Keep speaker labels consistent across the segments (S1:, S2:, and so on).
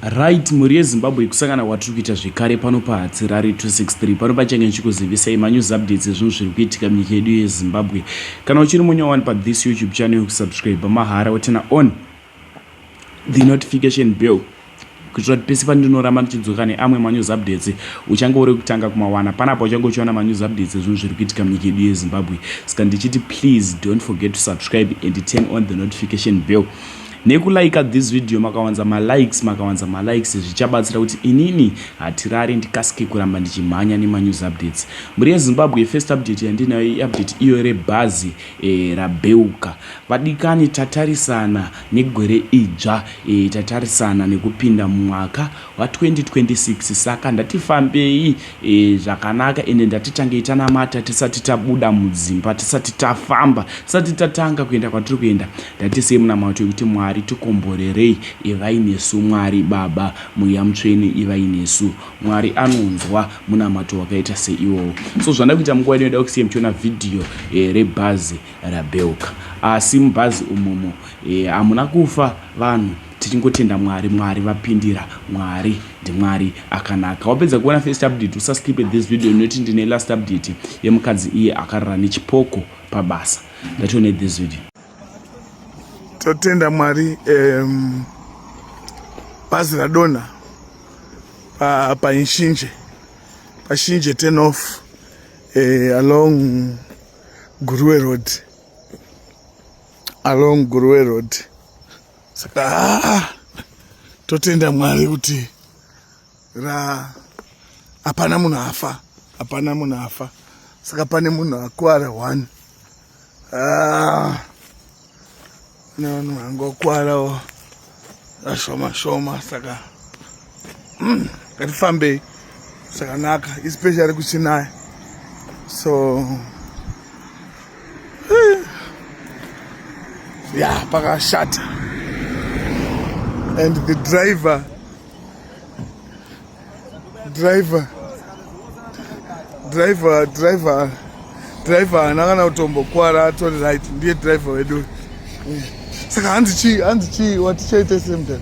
S1: Right mhuri yeZimbabwe kusangana kwatiri kuita zvekare pano paHatsirari 263 pano pachange ndichikuzivisai manews updates ezvinhu zviri kuitika munyika yedu yeZimbabwe kana uchiri munya wani pathis youtube channel yokusubscribe mahara wotena on the notification bell kuitira kuti pese pandinoramba ndichidzoka neamwe manews updates uchange uri kutanga kumawana panapa uchange uchiwana manews updates ezvinhu zviri kuitika munyika yedu yezimbabwe saka ndichiti please don't forget to subscribe and turn on the notification bell Nekulaika this video makawanza malikes makawanza malikes zvichabatsira kuti inini hatirare ndikasike kuramba ndichimhanya nemanews updates. Mhuri yeZimbabwe first update yandinayo iupdate iyo rebhazi e, rabeuka. Vadikani tatarisana negwere idzva e, tatarisana nekupinda mumwaka wa 2026 saka ndati fambei e, zvakanaka ende ndati tangei tanamata tisati tabuda mudzimba tisati tafamba tisati tatanga kuenda kwatiri kuenda ndati sei munamato yekuti mwari tikomborerei ivai nesu mwari baba mweya mutsvene ivai nesu mwari anonzwa munamato wakaita seiwowo so zvanda kuita munguva ino ida kusiya muchiona vhidhiyo e, rebhazi rabheuka asi mubhazi umumo e, hamuna kufa vanhu Tichingotenda Mwari Mwari vapindira Mwari ndiMwari akanaka wapedza kuona first update usa skipe this video inoti ndine last update yemukadzi iye akarara nechipoko pabasa ndatione this video totenda
S2: Mwari um, bazi radonha pa, pa inshinje pashinje turn off uh, along Guruwe road along Guruwe road saka haa totenda mwari kuti ra hapana munhu afa hapana munhu afa saka pane munhu akwara one ah, ne vanhu vangokwarawo ashoma shoma saka mm, ngatifambei zvakanaka especially kuchinaya so eh, ya pakashata and the driver driver driver driver driver haana kana kutombokwara atori right ndiye driver wedu saka hanzi chii hanzi chii watichaita semdan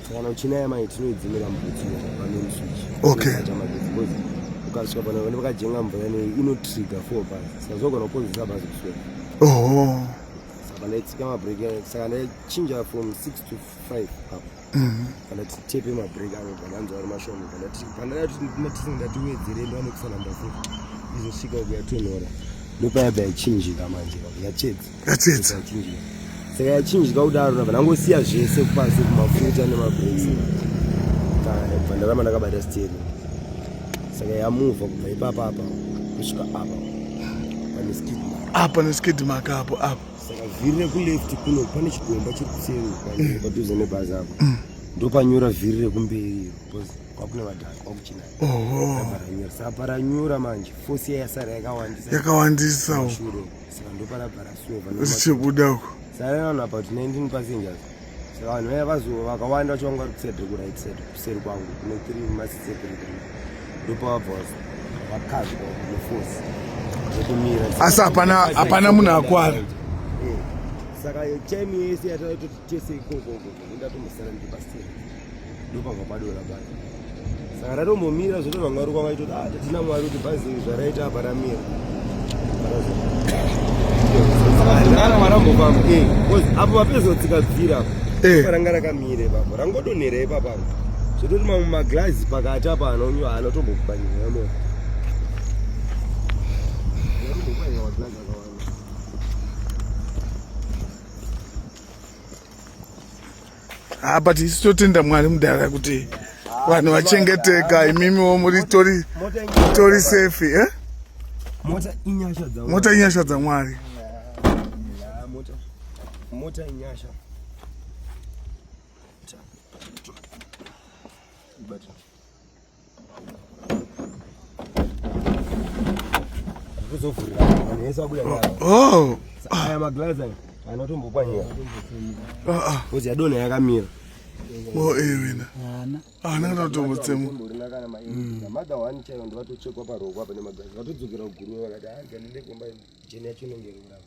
S3: kana uchina yamai tinoidzimira mubhutsu pamain switch okay ukasvika pano vanenge vakajenga mvura ino inotriga four bus saka zvogona kukonzeresa bus kuswera oho saka ndaitsika mabreak saka ndaichinja from six to five apo mhm. kana titepe mabreak avo vananzi vari mashoma pandatisina ndatiwedzere ndo anekusanamba futi izosvika kuyatonhora ndopayabva yachinjika manje yachedza yatsedza saka yachinjika kudaro nabva ndangosiya zvese kupasi kumafuta nemabreaks bva ndaramba ndakabata steri saka yamuvha kubva ipapa apa kusvika apa pane skid apa neskid maka apo apo saka vhiri rekuleft kuno pane chigomba chiri kuseri padhuze nebhazi apo mm. ndopanyura vhiri rekumberi kwakune vadhaka kwakuchina aparanyura saka paranyura manje fosi yasara yakawandisa yakawandisa
S2: saka
S3: ndoparabhara sure vanhu zvichibuda uko
S2: sare vanhu about 19
S3: passengers saka vanhu vaya vazo vakawanda vacho vanga vari kuside ku right side kuseri kwangu kune tiri masise tiri tiri ndopavabva vakazwa neforce
S2: zvekumira asi hapana hapana munhu akwara
S3: saka time yese yataitoti tese ikoko ndatomosara ndiri paseri ndopabva padora bhazi saka ratombomira zvoto vamwe vari kwanga itoti ah, tatina mwari kuti bhazi zvaraita apa ramira eh, apo vapezotsika bvira eh. ranga rakamire papo rangodonhera ipapapo zvototi mamwe maglazi pakati apa anonyo anotombokubanyira mota
S2: ah, but isu totenda mwari mudhara kuti vanhu vachengeteka imimiwo muritori tori safe eh? mota inyasha dzamwari
S3: mota inyasha Oh.
S2: Aya maglass
S3: aya anotombokwanira. Ah ah. Kozi yadona yakamira. Oh eh
S2: wena. Ana. Ana anotombotsemwa.
S3: Mada wani chayo ndivatochekwa paroko apa nemaglass. Vatodzokera kuguru vakati ah ganile kumba jeni yacho inongerera.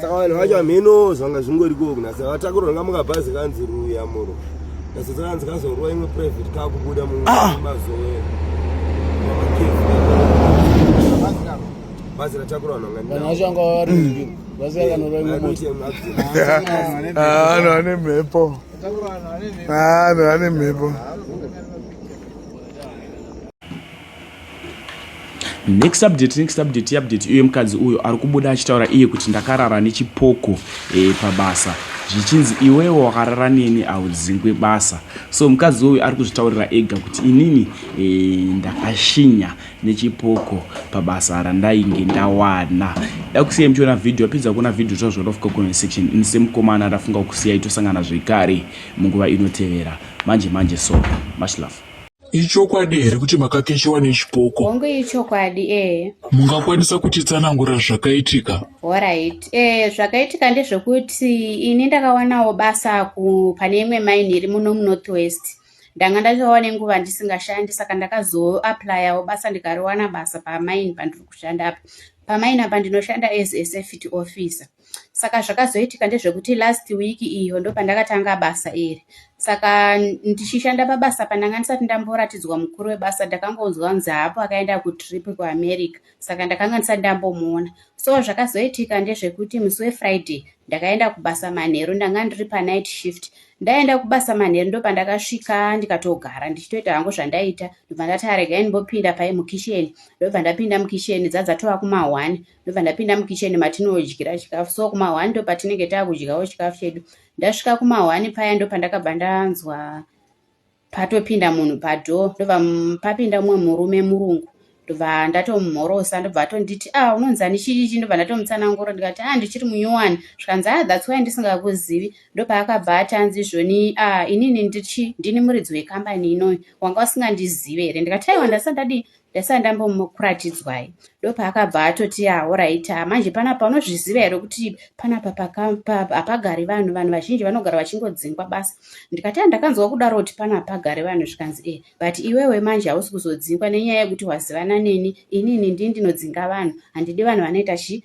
S4: Saka vanhu vacho hamheno
S3: zvanga zvingori koku nasa vatakurwa nga mukabhazi kanzi ruya muro nasa dzakanzi kazorwa imwe private kakubuda mumazoe bhazi ratakura vanhu vanhu vacho vanga vari
S4: bhazi rakanorwa imwe vanhu
S2: vane mhepo vanhu vane mhepo
S1: next update next update update uye mukadzi uyo ari kubuda achitaura iye kuti ndakarara nechipoko e, pabasa zvichinzi iwewo wakarara neni audzingwe basa so mukadzi uyo ari kuzvitaurira ega kuti inini e, ndakashinya nechipoko pabasa randainge ndawana dakusiya muchiona vhidhio apedza kuona vhidhio zvazvoda kufuka comment section ini semukomana ndafunga kusiya itosangana zvekare munguva inotevera manje manje so much love Ichokwadi here
S5: kuti makakeshewa nechipoko? Hongu ichokwadi
S6: ee. Mungakwanisa
S5: kutitsanangura zvakaitika? Horait ee
S6: eh, zvakaitika ndezvekuti ini ndakawanawo basa ku pane imwe maini iri muno munorth west ndanga ndatowa nenguva ndisingashandi saka ndakazoaplayawo basa ndikariwana basa pamaini pandiri kushanda apa pamaini apa ndinoshanda as a safety officer saka zvakazoitika ndezvekuti last week iyo ndopandakatanga basa iri saka ndichishanda pabasa pandanga ndisati ndamboratidzwa mukuru webasa ndakangonzwa kunzi haapo akaenda kutrip kuamerica saka ndakanga ndisati ndambomuona so zvakazoitika ndezvekuti musi wefriday ndakaenda kubasa manheru ndanga ndiri panight shift ndaenda kubasa manheru ndopandakasvika ndikatogara ndichitoita hangu zvandaita ndobva ndati aregai ndimbopinda pai mukisheni ndobva ndapinda mukisheni dzadzatova kuma one ndobva ndapinda mukitchen matinodyira chikafu so kumahwani ndo patinenge taakudyawo chikafu chedu ndasvika kumahwani paya ndo pandakabva ndanzwa patopinda munhu padoor ndobva papinda mumwe murume murungu ndobva ndatomumhorosa ndobva atonditi a ah, unonzi ani chiichi ndobva ndatomutsanangura ndikati a ah, ndichiri munyowani zvikanzi a ah, that's why ndisingakuzivi ndopaakabva ati anzi izvoni a inini ndichi ndini muridzi wekambani inoyi wanga usingandizive here ndikati aiwa ndasati ndadii ndasara ndambomukuratidzwai ndopaakabva atoti ahoraita ah, manje panapa unozviziva here kuti panapa hapagari vanhu vanhu vazhinji vanogara vachingodzingwa basa ndikati ah, ndakanzwa kudaro kuti pana hapagari vanhu zvikanzi e but iwewe manje hausi kuzodzingwa nenyaya yekuti wazivana neni inini ndii ndinodzinga vanhu handidi vanhu vanoita chii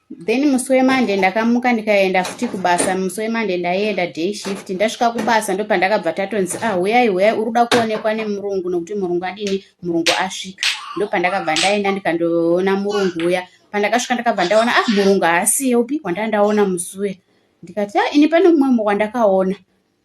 S6: then musi wemande ndakamuka ndikaenda futi kubasa musi wemande ndaienda day shift ndasvika kubasa ndopandakabva tatonzi ah huyai huyai uri kuda kuonekwa nemurungu nokuti murungu adini murungu asvika ndopandakabva ndaenda ndikandoona murungu uya pandakasvika ndakabva ndaona ah murungu haasiye upi wandanda ndaona musi uya ndikati ah ini pane mumwe mumwe wandakaona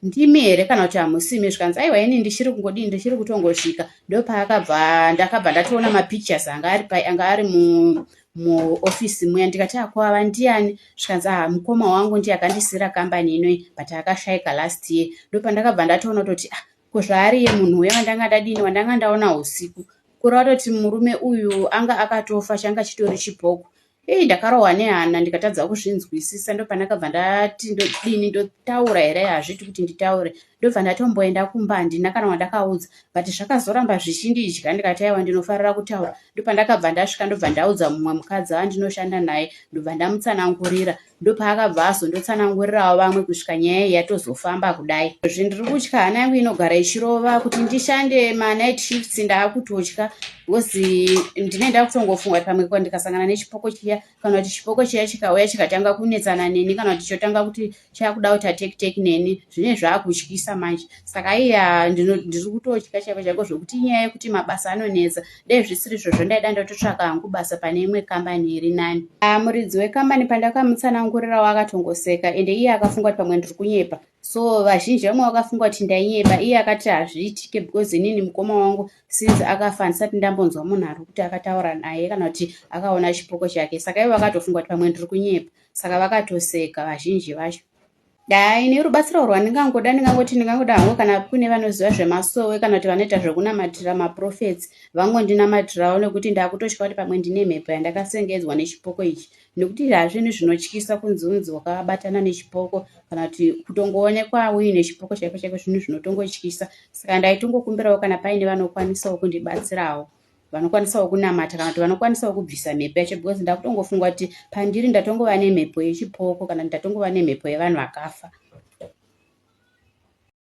S6: ndimi here kana kuti hamusimi zvikanzi aiwa ini ndichiri kungodii ndichiri kutongosvika ndopaakabva ndakabva ndatoona mapictures anga ari pai anga ari mu muofisi muya ndikati akwava ah, ndiani zvikanzi aha mukoma wangu ndiye akandisira kambani inoi but akashaika last year ndopandakabva ndatoona kutoti ah ko zvaariye munhu uya wandanga ndadini wandanga ndaona usiku kuri watoti murume uyu anga akatofa changa chitori chibhoko Hey, ndakarohwa nehana ndikatadza kuzvinzwisisa ndopanakabva ndati ndodini ndotaura here hazviti kuti nditaure ndobva ndatomboenda kumba handina kana wandakaudza but zvakazoramba zvichindidya ndikati aiwa ndinofarira kutaura ndopandakabva ndasvika ndobva ndaudza mumwe mukadzi andinoshanda naye ndobva ndamutsanangurira Ndopaakabva azondotsanangurirawo vamwe kusvika nyaya iyi yatozofamba kudai. Izvi ndiri kutya hana yangu inogara ichirova kuti ndishande manight shifts ndaakutotya because ndine ndakutongofunga kuti pamwe ndikasangana nechipoko chiya kana kuti chipoko chiya chikauya chikatanga kunetsana neni kana kuti chotanga kuti chakuda kuti atekiteki neni zvine zvaakutyisa manje saka iya ndiri kutotya chaiko chaiko zvekuti inyaya yekuti mabasa anonetsa dai zvisiri izvozvo ndaida ndototsvaka hangu basa pane imwe kambani iri nani ah, muridzi wekambani pandakamutsanangurirawo akatongoseka ende iye akafunga kuti pamwe ndiri kunyepa so vazhinji vamwe vakafunga kuti ndainyepa iye akati hazviitike because inini mukoma wangu since akafa handisati ndambonzwa munhu ari kuti akataura naye kana kuti akaona chipoko chake saka ivo vakatofunga kuti pamwe ndiri kunyepa saka vakatoseka vazhinji vacho Haa ini rubatsiro rwandingangoda ndingangoti ndingangoda hangu kana kune vanoziva zvemasowe kana kuti vanoita zvekunamatira maprofets vangondinamatirawo nekuti ndakutotya kuti pamwe ndine mhepo yandakasengedzwa nechipoko ichi nekuti hazvinhu zvinotyisa kunzi unzi wakabatana nechipoko kana kuti kutongoonekwa uine chipoko chaiko chaiko zvinhu zvinotongotyisa saka ndaitongokumbirawo kana paine vanokwanisawo kundibatsirawo vanokwanisawo kunamata kana kuti vanokwanisawo kubvisa mhepo yacho because ndakutongofunga kuti pandiri ndatongova nemhepo yechipoko kana kuti ndatongova nemhepo yevanhu vakafa